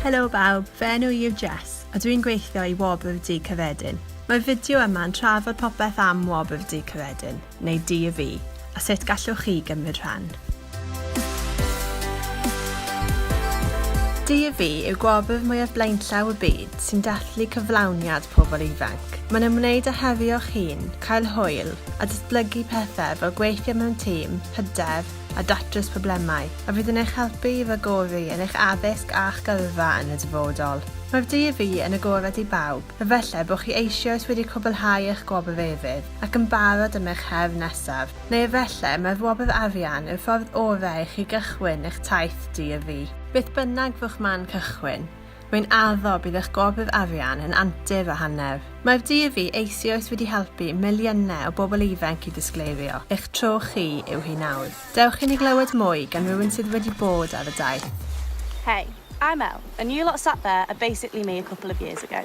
Helo bawb, fy enw i yw Jess, a dwi'n gweithio i Wobr Dŷ Cyffredin. Mae'r fideo yma yn trafod popeth am Wobr Dŷ Cyffredin, neu DYFI, a sut gallwch chi gymryd rhan. DV yw gwobr mwyaf blaenllaw y byd sy'n dathlu cyflawniad pobl ifanc. Mae'n ymwneud â herio'ch hun, cael hwyl, a datblygu pethau fel gweithio mewn tîm, hyder, a datrys problemau, a fydd yn eich helpu i ragori yn eich addysg a'ch gyrfa yn y dyfodol. Mae'r DV yn agored i bawb, efallai bod chi eisioes wedi cwblhau eich gwobr efydd ac yn barod am eich her nesaf. Neu efallai mai wobr arian yw'r ffordd orau i chi gychwyn eich taith di-a-fi. Beth bynnag fo'ch man cychwyn, rwy'n addo bydd eich gwobr arian yn antur o hanner. Mae'r di-a-fi eisioes wedi helpu miliynau o bobl ifanc i ddisgleirio, eich tro chi yw hi nawr. Dewch i ni glywed mwy gan rywun sydd wedi bod ar y daith. Hey, I'm Elle, and you lot sat there are basically me a couple of years ago.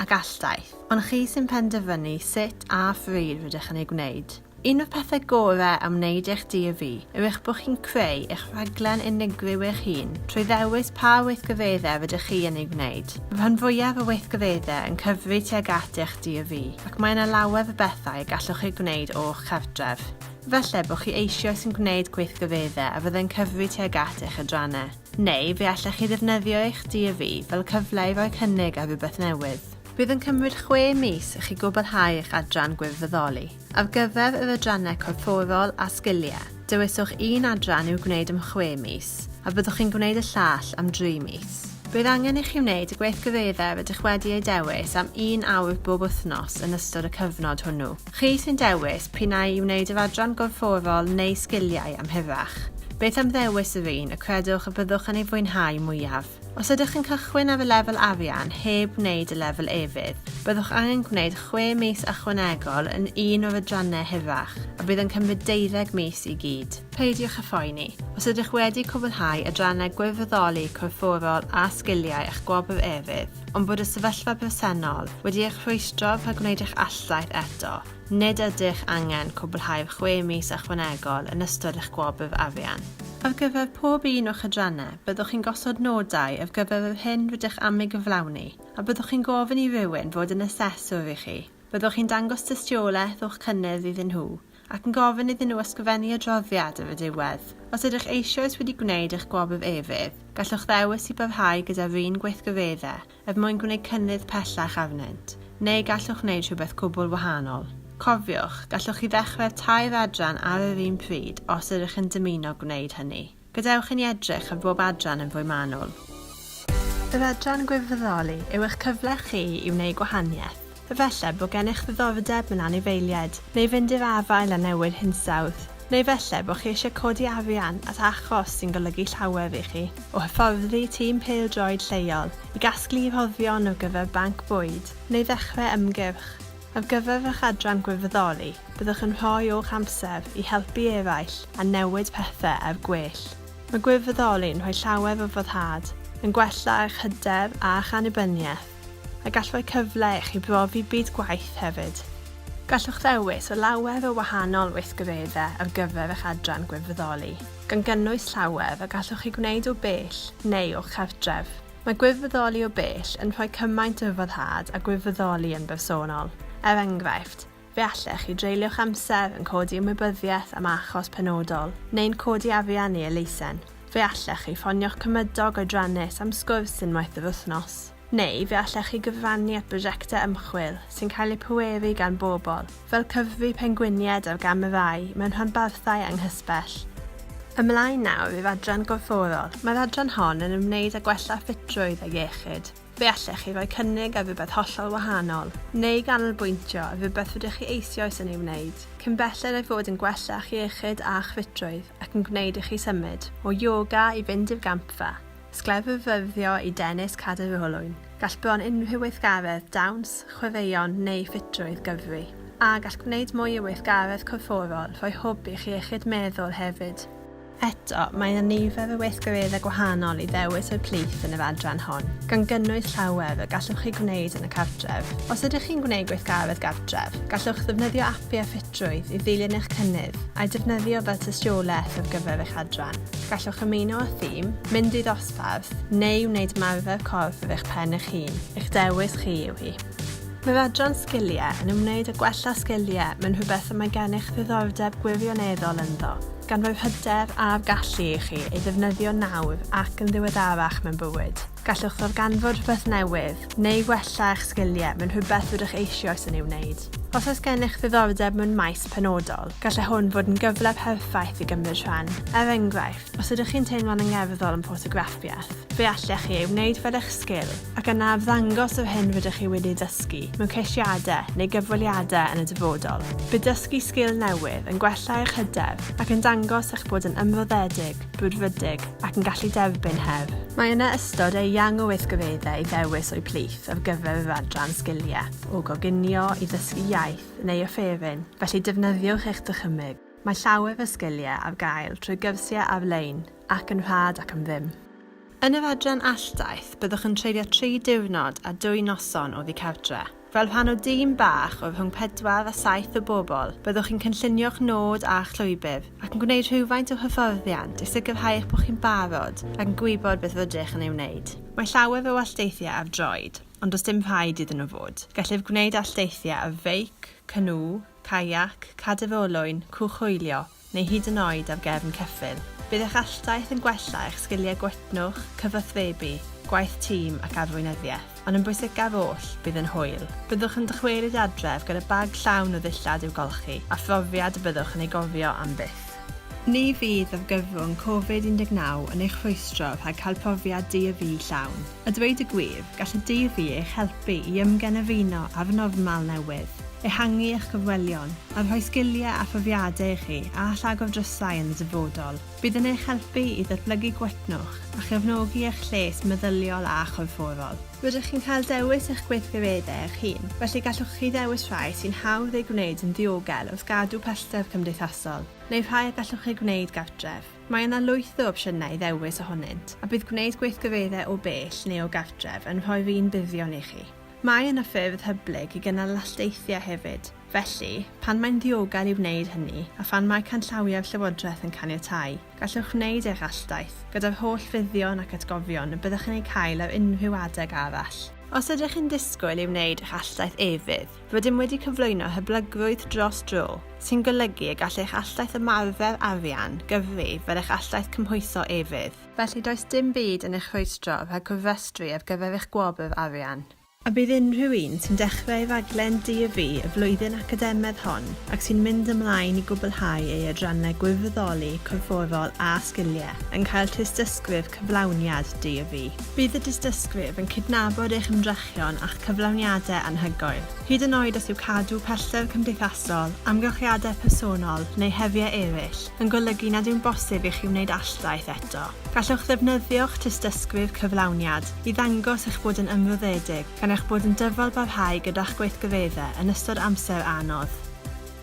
a gall daith, ond chi sy'n penderfynu sut a phryd rydych yn ei gwneud. Un o'r pethau gorau am wneud eich DAV yw eich bod chi'n creu eich rhaglen unigryw eich hun trwy ddewis pa weithgareddau rydych chi yn ei wneud. Mae rhan fwyaf o weithgareddau yn cyfri tuag at eich DAV ac mae yna lawer o bethau y gallwch chi gwneud o'ch cartref. Efallai bod chi eisioes yn gwneud gweithgareddau a fyddai'n cyfri tuag at eich adrannau. Neu fe allech chi ddefnyddio eich DAV fel cyfle i roi cynnig ar rhywbeth newydd. Bydd yn cymryd chwe mis i chi gwblhau eich adran gwirfoddoli. Ar gyfer yr adrannau corfforol a sgiliau, dewiswch un adran i'w gwneud am chwe mis, a byddwch chi'n gwneud y llall am dri mis. Bydd angen i chi wneud y gweithgareddau rydych wedi eu dewis am un awr bob wythnos yn ystod y cyfnod hwnnw. Chi sy'n dewis p'un ai i wneud yr adran gorfforol neu sgiliau amheuach, beth am ddewis yr un y credwch y byddwch yn ei fwynhau mwyaf? Os ydych yn cychwyn ar y lefel arian heb wneud y lefel efydd, byddwch angen gwneud chwe mis ychwanegol yn un o'r adrannau hirach, a bydd yn cymryd deuddeg mis i gyd. Peidiwch â phoeni, os ydych wedi cwblhau adrannau gwirfoddoli corfforol a sgiliau a'ch gwobr efydd, ond bod y sefyllfa presennol wedi eich rhwystro rhag gwneud eich alldaith eto, nid ydych angen cwblhau'r chwe mis ychwanegol yn ystod eich gwobr arian. Ar gyfer pob un o'ch adrannau, byddwch chi'n gosod nodau ar gyfer yr hyn rydych am ei gyflawni, a byddwch chi'n gofyn i rywun fod yn aseswr i chi. Byddwch chi'n dangos tystiolaeth o'ch cynnydd iddyn nhw, ac yn gofyn iddyn nhw ysgrifennu adroddiad ar y diwedd. Os ydych eisoes wedi gwneud eich gwobrwyd efydd, gallwch ddewis i barhau gyda'r un gweithgareddau er mwyn gwneud cynnydd pellach arnynt, neu gallwch wneud rhywbeth cwbl wahanol. Cofiwch, gallwch chi ddechrau'r tair adran ar yr un pryd os ydych yn dymuno gwneud hynny. Gadewch i ni edrych ar bob adran yn fwy manwl. Yr adran Gwirfoddoli yw eich cyfle chi i wneud gwahaniaeth. Efallai bod gennych ddiddordeb mewn anifeiliaid, neu fynd i'r afael â newid hinsawdd. Neu efallai bod chi eisiau codi arian at achos sy'n golygu llawer i chi, o hyfforddi tîm pêl-droed lleol, i gasglu rhoddion ar gyfer banc bwyd, neu ddechrau ymgyrch. Ar gyfer fy chadran gwirfoddoli, byddwch yn rhoi o'ch amser i helpu eraill a newid pethau er gwell. Mae gwirfoddoli'n rhoi llawer o foddhad, yn gwella eich hyder a'ch annibyniaeth, a gall rhoi cyfle i chi brofi byd gwaith hefyd. Gallwch ddewis o lawer o wahanol weithgareddau ar gyfer eich adran gwirfoddoli, gan gynnwys llawer a gallwch eu gwneud o bell neu o'ch cartref. Mae gwirfoddoli o bell yn rhoi cymaint o foddhad â gwirfoddoli yn bersonol. Er enghraifft, fe allech chi dreulio'ch amser yn codi ymwybyddiaeth am achos penodol, neu'n codi arian neu elusen. Fe allech chi ffonio'ch cymydog oedrannus am sgwrs unwaith yr wythnos. Neu fe allech chi gyfrannu at brosiectau ymchwil sy'n cael eu pweru gan bobl, fel cyffi pengwiniaid ar gam y ddau mewn rhanbarthau anghysbell. Ymlaen nawr i'r adran gorfforol, mae'r adran hon yn ymwneud â gwella ffitrwydd a iechyd. Fe allech chi roi cynnig ar rywbeth hollol wahanol, neu ganolbwyntio ar rywbeth rydych chi eisioes yn ei wneud, cyn belled â'i fod yn gwella'ch iechyd a'ch ffitrwydd ac yn gwneud i chi symud o yoga i fynd i'r gampfa. Sgleddyddio i dennis cadw fy olwyn. Gall bron unrhyw weithgaredd, dawns, chwaraeon neu ffitrwydd, gyfri. A gall gwneud mwy o weithgaredd corfforol rhoi hwb i'ch iechyd meddwl hefyd. Eto, mae yna nifer o weithgareddau gwahanol i ddewis o'u plith yn yr adran hon, gan gynnwys llawer y gallwch chi gwneud yn y cartref. Os ydych chi'n gwneud gweithgaredd gartref, gallwch ddefnyddio apiau ffitrwydd i ddilyn eich cynnydd, a'u defnyddio fel tystiolaeth ar gyfer eich adran. Gallwch ymuno â thîm, mynd i ddosbarth, neu wneud ymarfer corff ar eich pen eich hun, eich dewis chi yw hi. Mae'r adran Sgiliau yn ymwneud â gwella sgiliau mewn rhywbeth y mae gennych ddiddordeb gwirioneddol ynddo, gan roi'r hyder a'r gallu i chi ei ddefnyddio nawr ac yn ddiweddarach mewn bywyd. Gallwch ddarganfod rhywbeth newydd, neu wella eich sgiliau mewn rhywbeth rydych eisioes yn ei wneud. Os oes gennych ddiddordeb mewn maes penodol, gallai hwn fod yn gyfle perffaith i gymryd rhan. Er enghraifft, os ydych chi'n teimlo'n angerddol yn ffotograffiaeth, fe allech chi ei wneud fel eich sgil ac yna arddangos yr hyn rydych chi wedi'i dysgu mewn ceisiadau neu gyfweliadau yn y dyfodol. Bydd dysgu sgil newydd yn gwella eich hyder ac yn dangos eich bod yn ymroddedig, brwdfrydig ac yn gallu derbyn her. Mae yna ystod eang o weithgareddau i ddewis o'u plith ar gyfer yr adran Sgiliau, o goginio i ddysgu iaith, neu y ffefryn, felly defnyddiwch eich dychymyg. Mae llawer fy sgiliau ar gael trwy gyrsiau ar-lein ac yn rhad ac am ddim. Yn yr adran alldaith, byddwch yn treulio tri diwrnod a dwy noson oddi cartre. Fel rhan o dîm bach o rhwng pedwar a saith o bobl, byddwch chi'n cynllunio'ch nod a'ch llwybr ac yn gwneud rhywfaint o hyfforddiant i sicrhau eich bod chi'n barod ac yn gwybod beth rydych yn ei wneud. Mae llawer o alldeithiau ar droed. ond does dim rhaid iddyn nhw fod. Gellid gwneud alldeithiau ar feic, canŵ, caiac, cadydd olwyn, cwch hwylio, neu hyd yn oed ar gefn ceffyl. Bydd eich alldaith yn gwella eich sgiliau gwytnwch, cyfathrebu, gwaith tîm ac arweinyddiaeth, ond yn bwysicaf oll, bydd yn hwyl. Byddwch yn dychwelyd adref gyda bag llawn o ddillad i'w golchi, a phrofiad y byddwch yn ei gofio am byth. Ni fydd argyfwng Covid 19 yn eich rhwystro rhag cael profiad du-a-fu llawn. A dweud y gwir, gall y Deifi eich helpu i ymgenefino â fy normal newydd, ehangu eich cyfwelion, a rhoi sgiliau a phrofiadau i chi a all agor drysau yn y dyfodol. Bydd yn eich helpu i ddatblygu gwytnwch a chefnogi eich lles meddyliol a chorfforol. Rydych chi'n cael dewis eich gweithgareddau eich hun, felly gallwch chi ddewis rhai sy'n hawdd eu gwneud yn ddiogel wrth gadw pellter cymdeithasol, neu rhai y gallwch eu gwneud gartref. Mae yna lwyth o opsiynau i ddewis ohonynt, a bydd gwneud gweithgareddau o bell neu o gartref yn rhoi'r un buddion i chi. Mae yna ffyrdd hyblyg i gynnal lasteithiau hefyd, felly, pan mae'n ddiogel i wneud hynny a phan mae canllawiau'r Llywodraeth yn caniatáu, gallwch wneud eich alldaith, gyda'r holl fuddion ac atgofion y byddwch yn eu cael ar unrhyw adeg arall. Os ydych yn disgwyl i wneud eich alldaith efydd, Rydym wedi cyflwyno hyblygrwydd dros dro, sy'n golygu y gall eich alldaith ymarfer arian gyfri fel eich alldaith cymhwyso efydd. Felly, does dim byd yn eich rhwystro rhag cofrestru ar gyfer eich gwobr arian. A bydd unrhyw un sy'n dechrau ei raglen DAV y flwyddyn academaidd hon ac sy'n mynd ymlaen i gwblhau ei adrannau gwirfoddoli, corfforol a sgiliau yn cael tystysgrif cyflawniad DAV. Bydd y tystysgrif yn cydnabod eich ymdrechion ymdrechion a'ch cyflawniadau anhygoel, hyd yn oed os yw cadw pellter cymdeithasol, amgylchiadau personol, neu heriau eraill yn golygu nad yw'n bosib i chi wneud alldaith eto. Gallwch ddefnyddio'ch tystysgrif cyflawniad i ddangos eich bod yn ymroddedig gan eich bod yn dyfalbarhau gyda'ch gweithgareddau yn ystod amser anodd.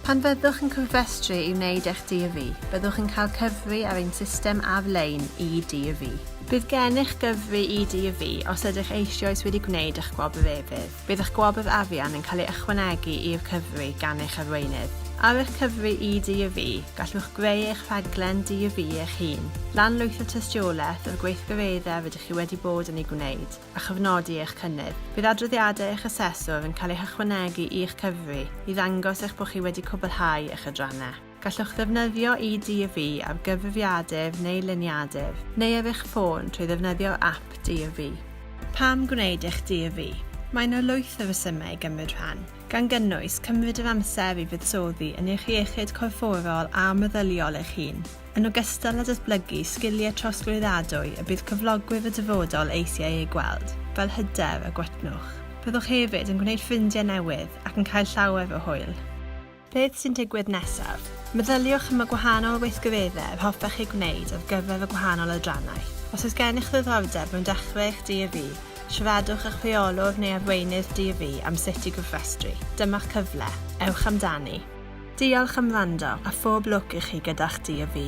Pan fyddwch yn cofrestru i wneud eich DV, byddwch yn cael cyfri ar ein system ar-lein eDV. Bydd gennych gyfri eDV os ydych eisioes wedi gwneud eich gwobr efydd. Bydd eich gwobr arian yn cael ei ychwanegu i'r cyfri gan eich arweinydd. Ar eich cyfri eDV, gallwch greu eich rhaglen DV eich hun, lanlwytho tystiolaeth o'r gweithgareddau rydych chi wedi bod yn ei gwneud, a chofnodi eich cynnydd. Bydd adroddiadau eich aseswr yn cael eu hychwanegu i'ch cyfri i ddangos eich bod chi wedi cwblhau eich adrannau. Gallwch ddefnyddio EDV ar gyfrifiadur neu liniadur, neu ar eich ffôn trwy ddefnyddio'r ap DRV. Pam gwneud eich DRV? Mae yna lwyth o resymau i gymryd rhan, gan gynnwys cymryd yr amser i fuddsoddi yn eich iechyd corfforol a meddyliol eich hun, yn ogystal â datblygu sgiliau trosglwyddadwy y bydd cyflogwyr y dyfodol eisiau eu gweld, fel hyder a gwytnwch. Byddwch hefyd yn gwneud ffrindiau newydd ac yn cael llawer o hwyl. Beth sy'n digwydd nesaf? Meddyliwch am y gwahanol weithgareddau yr hoffech eu gwneud ar gyfer y gwahanol adrannau. Os oes gennych ddiddordeb mewn dechrau eich DAV, siaradwch â'ch rheolwr neu arweinydd DAV am sut i gofrestru. Dyma'r cyfle. Ewch amdani! Diolch am wrando, a phob lwc i chi gyda'ch Dydd-Fi!